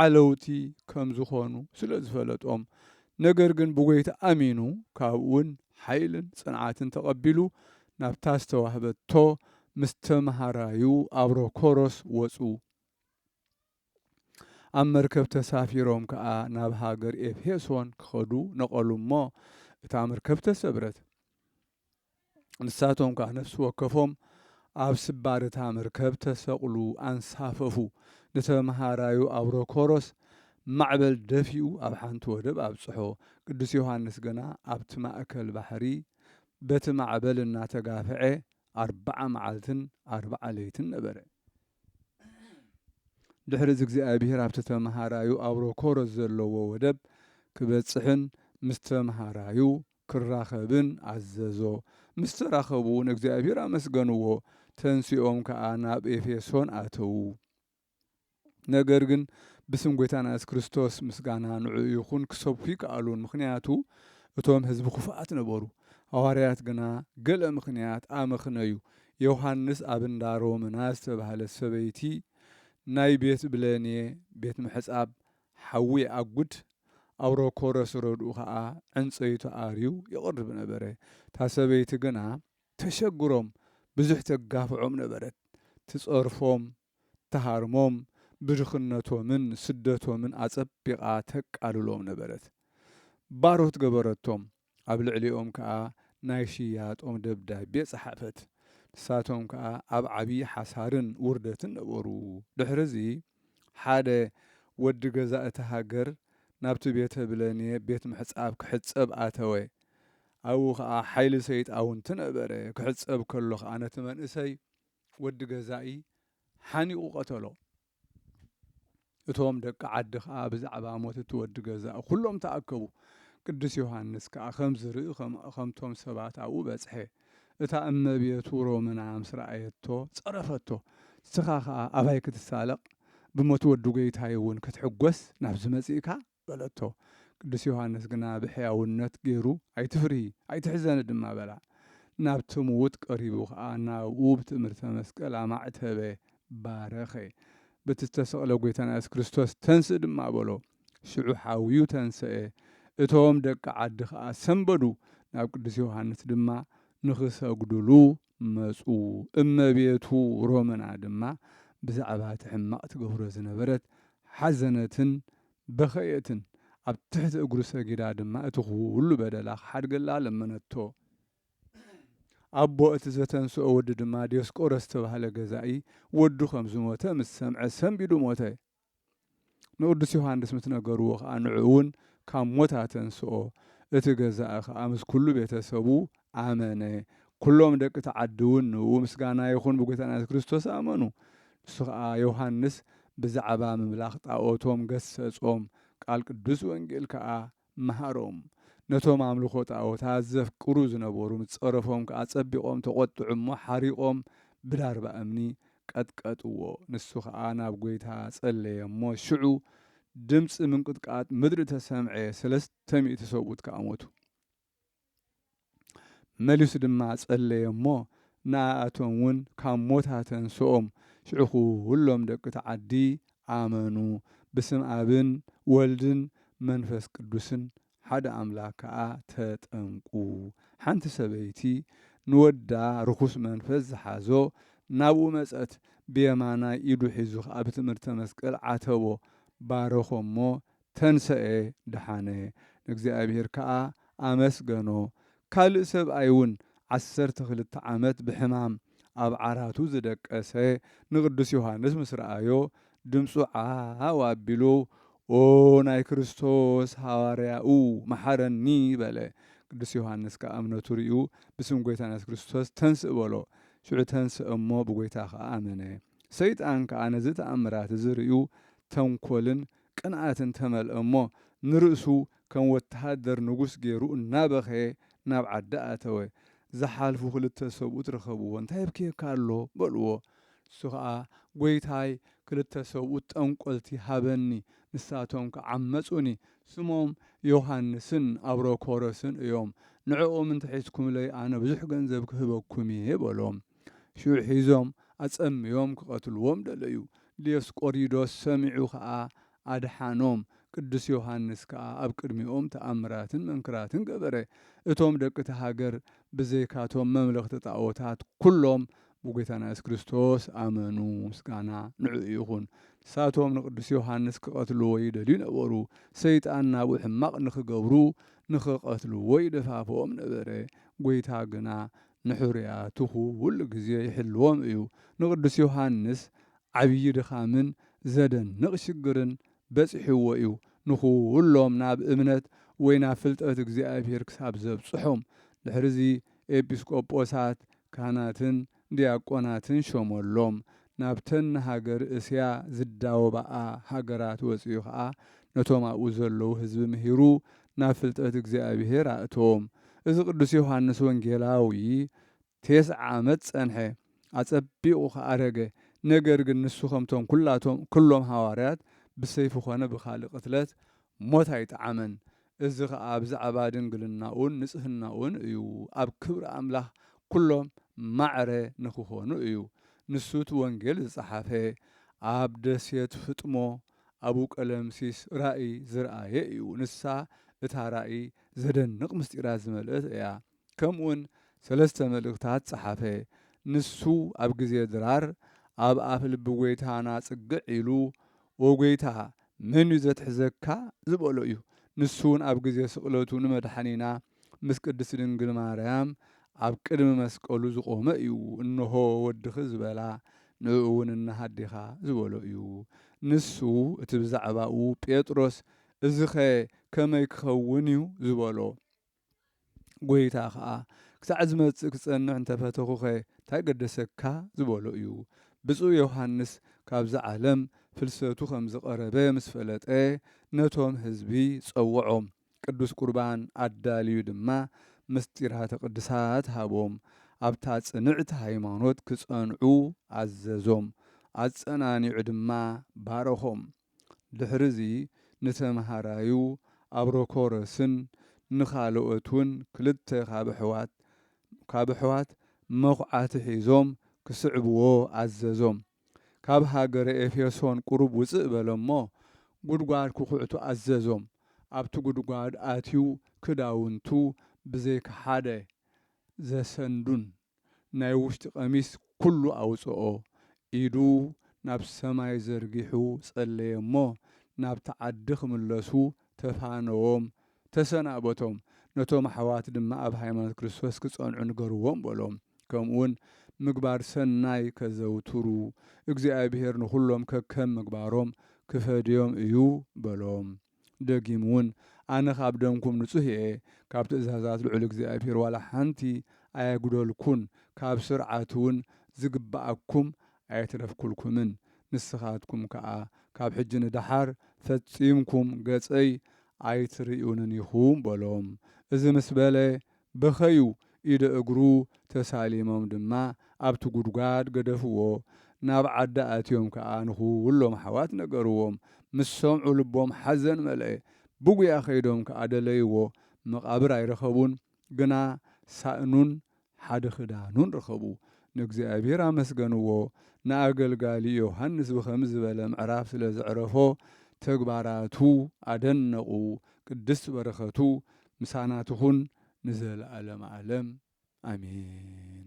ዓለውቲ ከም ዝኾኑ ስለ ዝፈለጦም፣ ነገር ግን ብጎይታ ኣሚኑ ካብኡውን ሓይልን ጽንዓትን ተቐቢሉ ናብታ ዝተዋህበቶ ምስ ተመሃራዩ ኣብሮ ኮሮስ ወጹ። ኣብ መርከብ ተሳፊሮም ከኣ ናብ ሃገር ኤፌሶን ክኸዱ ነቐሉ እሞ እታ መርከብ ተሰብረት። ንሳቶም ከኣ ነፍሲ ወከፎም ኣብ ስባር እታ መርከብ ተሰቕሉ ኣንሳፈፉ። ንተመሃራዩ ኣውሮኮሮስ ማዕበል ደፊኡ ኣብ ሓንቲ ወደብ ኣብጽሖ። ቅዱስ ዮሃንስ ግና ኣብቲ ማእከል ባሕሪ በቲ ማዕበል እናተጋፍዔ ኣርብዓ መዓልትን ኣርብዓ ለይትን ነበረ። ድሕሪ እዚ እግዚኣብሄር ኣብቲ ተመሃራዩ ኣውሮኮረስ ዘለዎ ወደብ ክበጽሕን ምስ ተመሃራዩ ክራኸብን ኣዘዞ። ምስ ተራኸቡ እውን እግዚኣብሄር ኣመስገንዎ፣ ተንሲኦም ከኣ ናብ ኤፌሶን ኣተዉ። ነገር ግን ብስም ጐይታና የሱስ ክርስቶስ ምስጋና ንዕኡ ይኹን ክሰብኩ ኣይከኣሉን፣ ምኽንያቱ እቶም ህዝቢ ክፉኣት ነበሩ። ሃዋርያት ግና ገለ ምኽንያት ኣመኽነዩ፣ ዮሃንስ ኣብ እንዳ ሮምና ዝተባህለት ሰበይቲ ናይ ቤት ብለኔ፣ ቤት ምሕጻብ፣ ሓዊ ይኣጉድ፣ ኣውረኮ ረስረድኡ ከኣ ዕንጸይቱ ኣርዩ ይቕርብ ነበረ። እታ ሰበይቲ ግና ተሸግሮም፣ ብዙሕ ተጋፍዖም ነበረት። ትጸርፎም፣ ትሃርሞም፣ ብድኽነቶምን ስደቶምን ኣጸቢቓ ተቃልሎም ነበረት። ባሮት ገበረቶም፣ ኣብ ልዕሊኦም ከኣ ናይ ሽያጦም ደብዳቤ ጸሓፈት። ንሳቶም ከኣ ኣብ ዓቢ ሓሳርን ውርደትን ነበሩ። ድሕርዚ ሓደ ወዲ ገዛ እታ ሃገር ናብቲ ቤተ ብለኔ ቤት ምሕጻብ ክሕጸብ ኣተወ። ኣብኡ ከኣ ሓይሊ ሰይጣውንቲ ነበረ። ክሕጸብ ከሎ ከኣ ነቲ መንእሰይ ወዲ ገዛኢ ሓኒቑ ቀተሎ። እቶም ደቂ ዓዲ ኸኣ ብዛዕባ ሞት እቲ ወዲ ገዛኢ ዅሎም ተኣከቡ። ቅዱስ ዮሃንስ ከኣ ከም ዝርኢ ኸምቶም ሰባት ኣብኡ በጽሐ። እታ እመቤቱ ሮምና ምስ ረኣየቶ ጸረፈቶ። ንስኻ ኸኣ ኣባይ ክትሳለቕ ብሞት ወዲ ጐይታይ እውን ክትሕጐስ ናብዚ መጺእካ? በለቶ። ቅዱስ ዮሓንስ ግና ብሕያውነት ገይሩ፣ ኣይትፍርሂ፣ ኣይትሕዘኒ ድማ በላ። ናብቲ ምዉት ቀሪቡ ኸኣ ናብኡ ብትእምርተ መስቀል ኣማዕተበ፣ ባረኸ። በቲ ዝተሰቕለ ጐይታና የሱስ ክርስቶስ ተንስእ ድማ በሎ። ሽዑ ሓውዩ ተንሰኤ። እቶም ደቂ ዓዲ ኸኣ ሰምበዱ፣ ናብ ቅዱስ ዮሓንስ ድማ ንኽሰግዱሉ መጹ። እመቤቱ ሮምና ድማ ብዛዕባ እቲ ሕማቕ ትገብሮ ዝነበረት ሓዘነትን በኸየትን። ኣብ ትሕቲ እግሩ ሰጊዳ ድማ እቲ ዅሉ በደላ ኺሓድገላ ለመነቶ። ኣቦ እቲ ዘተንስኦ ወዲ ድማ ዲዮስቆሮስ እተባህለ ገዛኢ ወዱ ኸም ዝሞተ ምስ ሰምዐ ሰንቢዱ ሞተ። ንቅዱስ ዮሃንስ ምስ ነገርዎ ከኣ ንዕኡ እውን ካብ ሞት ኣተንስኦ። እቲ ገዛኢ ከኣ ምስ ኩሉ ቤተ ሰቡ ኣመነ። ኩሎም ደቂ እቲ ዓዲ እውን ንእኡ ምስጋና ይኹን ብጎይታና የሱስ ክርስቶስ ኣመኑ። ንሱ ከኣ ዮሃንስ ብዛዕባ ምምላኽ ጣኦቶም ገሰጾም። ቃል ቅዱስ ወንጌል ከኣ መሃሮም። ነቶም ኣምልኾ ጣኦታት ዘፍቅሩ ዝነበሩ ምስ ጸረፎም ከኣ ጸቢቖም ተቖጥዑ እሞ ሓሪቖም ብላርባ እምኒ ቀጥቀጥዎ። ንሱ ኸኣ ናብ ጐይታ ጸለየ እሞ ሽዑ ድምጺ ምንቅጥቃጥ ምድሪ ተሰምዔ፣ ሰለስተ ሚእቲ ሰብኡት ከኣ ሞቱ። መሊሱ ድማ ጸለየ እሞ፣ ንኣኣቶም እውን ካብ ሞት ኣተንስኦም። ሽዑ ዅሎም ደቂ እቲ ዓዲ ኣመኑ፣ ብስም ኣብን ወልድን መንፈስ ቅዱስን ሓደ ኣምላኽ ከኣ ተጠምቁ። ሓንቲ ሰበይቲ ንወዳ ርኹስ መንፈስ ዝሓዞ ናብኡ መጸት፣ ብየማናይ ኢዱ ሒዙ ኸኣ ብትእምርተ መስቀል ዓተቦ፣ ባረኾ እሞ፣ ተንሰኤ ደሓነ፣ ንእግዚኣብሄር ከኣ ኣመስገኖ። ካልእ ሰብኣይውን ዓሰርተ ክልተ ዓመት ብሕማም ኣብ ዓራቱ ዝደቀሰ ንቅዱስ ዮሓንስ ምስ ረኣዮ ድምጹ ዓው ኣቢሉ ኦ ናይ ክርስቶስ ሃዋርያኡ መሓረኒ በለ። ቅዱስ ዮሓንስ ከኣ እምነቱ ርእዩ ብስም ጎይታና የሱስ ክርስቶስ ተንስእ በሎ። ሽዑ ተንስአ እሞ ብጎይታ ከኣ ኣመነ። ሰይጣን ከኣ ነዚ ተኣምራት እዚ ርእዩ ተንኮልን ቅንኣትን ተመልአ እሞ ንርእሱ ከም ወተሃደር ንጉስ ገይሩ እናበኸየ ናብ ዓዲ ኣተወ። ዝሓልፉ ክልተ ሰብኡት ረኸብዎ። እንታይ የብክየካ ኣሎ? በልዎ። ንሱ ኸኣ ጐይታይ ክልተ ሰብኡት ጠንቈልቲ ሃበኒ፣ ንሳቶም ከ ዓመጹኒ። ስሞም ዮሃንስን ኣብሮኮሮስን እዮም። ንዕኦም እንተ ሒዝኩምለይ ኣነ ብዙሕ ገንዘብ ክህበኩም እየ በሎም። ሽዑ ሒዞም ኣጸምዮም ክቐትልዎም ደለዩ። ዲዮስቆሪዶስ ሰሚዑ ከኣ ኣድሓኖም። ቅዱስ ዮሃንስ ከኣ ኣብ ቅድሚኦም ተኣምራትን መንክራትን ገበረ። እቶም ደቂ እታ ሃገር ብዘይካቶም መምለኽቲ ጣኦታት ኩሎም ብጐይታና የሱስ ክርስቶስ ኣመኑ። ምስጋና ንዕኡ ይኹን። ንሳቶም ንቅዱስ ዮሃንስ ክቐትልዎ ይደልዩ ነበሩ። ሰይጣን ናብኡ ሕማቕ ንኽገብሩ ንኽቐትልዎ ይደፋፍኦም ነበረ። ጐይታ ግና ንሕሩያትኹ ኹሉ ግዜ ይሕልዎም እዩ። ንቅዱስ ዮሃንስ ዓብዪ ድኻምን ዘደንቕ ሽግርን በጺሕዎ እዩ፣ ንኹሎም ናብ እምነት ወይ ናብ ፍልጠት እግዚኣብሔር ክሳብ ዘብጽሖም። ድሕርዚ ኤጲስቆጶሳት፣ ካህናትን ዲያቆናትን ሾመሎም። ናብተን ንሃገር እስያ ዝዳወባኣ ሃገራት ወጺኡ ኸኣ ነቶም ኣብኡ ዘለዉ ሕዝቢ ምሂሩ ናብ ፍልጠት እግዚኣብሔር ኣእተዎም። እዚ ቅዱስ ዮሓንስ ወንጌላዊ ቴስዓ ዓመት ጸንሐ፣ ኣጸቢቑ ኸኣ ኣረገ። ነገር ግን ንሱ ከምቶም ኵላቶም ኵሎም ሃዋርያት ብሰይፊ ዀነ ብኻልእ ቕትለት ሞት ኣይጠዓመን። እዚ ኸኣ ብዛዕባ ድንግልናኡን ንጽህናኡን እዩ፣ ኣብ ክብሪ ኣምላኽ ኵሎም ማዕረ ንኪዀኑ እዩ። ንሱ እቲ ወንጌል ዝጸሓፈ ኣብ ደሴት ፍጥሞ ኣብኡ ቀለምሲስ ራኢ ዝርኣየ እዩ። ንሳ እታ ራኢ ዘደንቕ ምስጢራት ዝመልእት እያ። ከምኡውን ሰለስተ መልእኽታት ጸሓፈ። ንሱ ኣብ ግዜ ድራር ኣብ ኣፍ ልቢ ጐይታና ጽግዕ ኢሉ ኦ ጐይታ መን እዩ ዘትሕዘካ ዝበሎ እዩ። ንሱውን ኣብ ግዜ ስቕለቱ ንመድሓኒና ምስ ቅድስቲ ድንግል ማርያም ኣብ ቅድሚ መስቀሉ ዝቆመ እዩ እንሆ ወድኺ ዝበላ ንእኡውን እነሃ ኣዴኻ ዝበሎ እዩ ንሱ እቲ ብዛዕባኡ ጴጥሮስ እዚኸ ከመይ ክኸውን እዩ ዝበሎ ጐይታ ኸኣ ክሳዕ ዝመጽእ ክጸንዕ እንተ ፈተኹኸ እንታይ ገደሰካ ዝበሎ እዩ ብጹእ ዮሓንስ ካብዛ ዓለም ፍልሰቱ ከም ዝቐረበ ምስ ፈለጠ ነቶም ህዝቢ ጸውዖም ቅዱስ ቍርባን ኣዳልዩ ድማ ምሥጢራተ ቅድሳት ሃቦም፣ ኣብታ ጽንዕቲ ሃይማኖት ኪጸንዑ ኣዘዞም፣ ኣጸናኒዑ ድማ ባረኾም። ድኅርዚ ንተምሃራዩ ኣብሮኮሮስን ንኻልኦትውን ክልተ ካብ ኣኅዋት መዂዓቲ ኂዞም ኪስዕብዎ ኣዘዞም። ካብ ሃገረ ኤፌሶን ቁሩብ ውጽእ በለ እሞ፣ ጉድጓድ ክኹዕቱ ኣዘዞም። ኣብቲ ጉድጓድ ኣትዩ ክዳውንቱ ብዘይካ ሓደ ዘሰንዱን ናይ ውሽጢ ቀሚስ ኩሉ ኣውጽኦ። ኢዱ ናብ ሰማይ ዘርጊሑ ጸለየ እሞ፣ ናብቲ ዓዲ ክምለሱ ተፋነዎም፣ ተሰናበቶም፣ ነቶም ኣሕዋት ድማ ኣብ ሃይማኖት ክርስቶስ ኪጸንዑ ንገርዎም በሎም፣ ከምኡውን ምግባር ሰናይ ኬዘውትሩ፣ እግዚኣብሄር ንዅሎም ከከም ምግባሮም ኪፈድዮም እዩ በሎም። ደጊምውን ኣነ ኻብ ደምኩም ንጹህ እየ፣ ካብ ትእዛዛት ልዑል እግዚኣብሄር ዋላ ሓንቲ ኣየጕደልኩን፣ ካብ ስርዓቱውን ዚግብኣኩም ኣየትረፍኩልኩምን ንስኻትኩም ከኣ ካብ ሕጂ ንደሓር ፈጺምኩም ገጸይ ኣይትርእዩንን ኢኹም በሎም። እዚ ምስ በለ በኸዩ፣ ኢደ እግሩ ተሳሊሞም ድማ ኣብቲ ጉድጓድ ገደፍዎ። ናብ ዓዲ ኣትዮም ከኣ ንኹሎም ኣሕዋት ነገርዎም። ምስ ሰምዑ ልቦም ሓዘን መልኤ። ብጉያ ከይዶም ከኣ ደለይዎ፣ መቓብር ኣይረኸቡን። ግና ሳእኑን ሓደ ኽዳኑን ረኸቡ፣ ንእግዚኣብሄር ኣመስገንዎ። ንኣገልጋሊ ዮሃንስ ብኸምዚ ዝበለ ምዕራፍ ስለ ዘዕረፎ ተግባራቱ ኣደነቑ፣ ቅድስት በረኸቱ ምሳና ትኹን ንዘለዓለም ዓለም ኣሜን።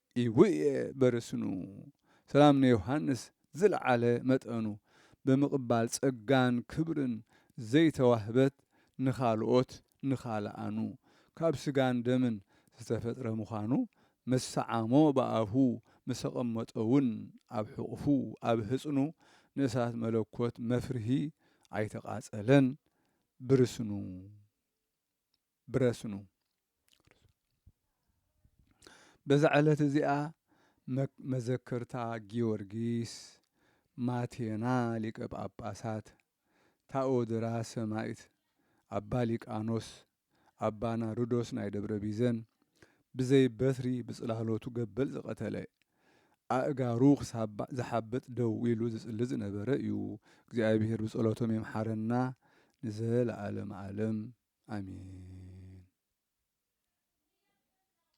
ኢውየ በርስኑ ሰላም ንዮሃንስ ዝልዓለ መጠኑ ብምቅባል ጸጋን ክብርን ዘይተዋህበት ንኻልኦት ንኻልኣኑ ካብ ስጋን ደምን ዝተፈጥረ ምዃኑ ምስ ሰዓሞ ብኣፉ ምሰቀመጦውን ኣብ ሕቁፉ ኣብ ህጽኑ ንእሳት መለኮት መፍርሂ ኣይተቃጸለን ብርስኑ ብረስኑ። በዛ ዕለት እዚኣ መዘከርታ ጊዮርጊስ፣ ማቴና ሊቀ ጳጳሳት፣ ታኦድራ ሰማይት፣ ኣባ ሊቃኖስ፣ ኣባ ናርዶስ ናይ ደብረ ቢዘን ብዘይ በትሪ ብጽላሎቱ ገበል ዝቐተለ ኣእጋሩ ክሳብ ዝሓብጥ ደው ኢሉ ዝጽሊ ዝነበረ እዩ እግዚኣብሔር ብጸሎቶም ይምሓረና ንዘለኣለም ኣለም ኣሜን።